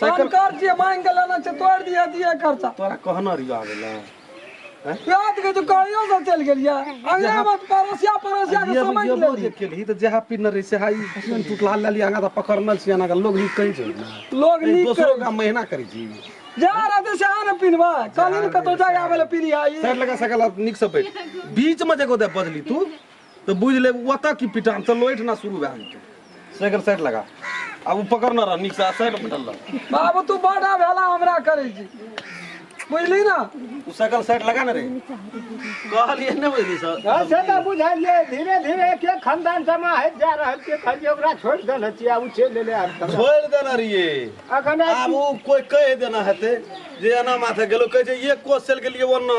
Cycle कर जे मांग के लेना छै तोड़ दिया दिया खर्चा तोरा कहना रिया गेला रात के तो कहियो से चल गेलिया अंगना में पड़ोसिया पड़ोसिया के समझ ले जे केलही त जहा पिन रे से हाई पिन टूटला लेली आगा त पकड़नल छी आगा लोग नी कहि छै ना लोग नी दोसरो का महीना करै छी जा रहते से आने पिनवा कल इन कतो जाय आवे ले पिनी आई सर लगा सकल निक से बैठ बीच में जगो दे बदली तू तऽ बुझि लेब ओतऽ की पिटान चल ओहिठिना शुरू भए जेतै साइकिल साइड लगा आ ओ पकड़ने रह नीकसँ आ साइड बैठल रह बाबू तू बड़ा भेला हमरा करै छी बुझली ना ओ साइकिल साइड लगा ने रे कहलियै नहि बुझली सर हँ, से तऽ बुझलियै धीरे धीरे के खानदान जमा होइत जा रहल छै खाली ओकरा छोड़ि देने छियै आब ओ चलि एलै आब तक। छोड़ि देने रहियै अखन आब ओ कोइ कहि देना हेतै जे एना माथे गेलो कहै छै एक कोस चलि गेलियै ओना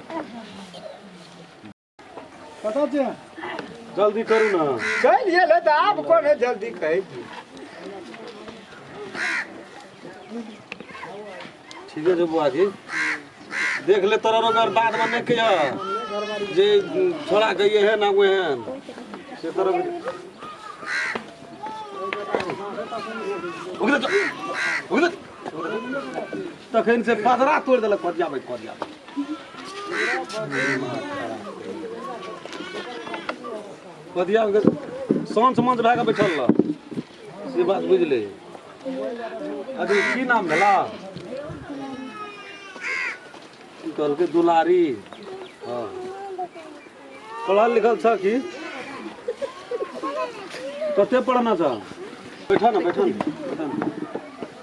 कतऽ छियै जल्दी करू ने चलि गेलै तऽ आब कोने जल्दी कहै छी ठीके छै बुआ जी देख ले तोरा अगर बाद में नहीं कहिया जे छोड़ा के ये है ना वो है से तोरा उगले उगले तखन से पदरा तोड़ देलक कट जाबै कट जाबै कदिया के साँझ मंच भए कऽ बैठल रह से बात बुझले अभी की नाम भेला की कहलकै दुलारी हँ पढ़ल लिखल छ कि कते पढ़ना छ बैठा न बैठा न बैठा न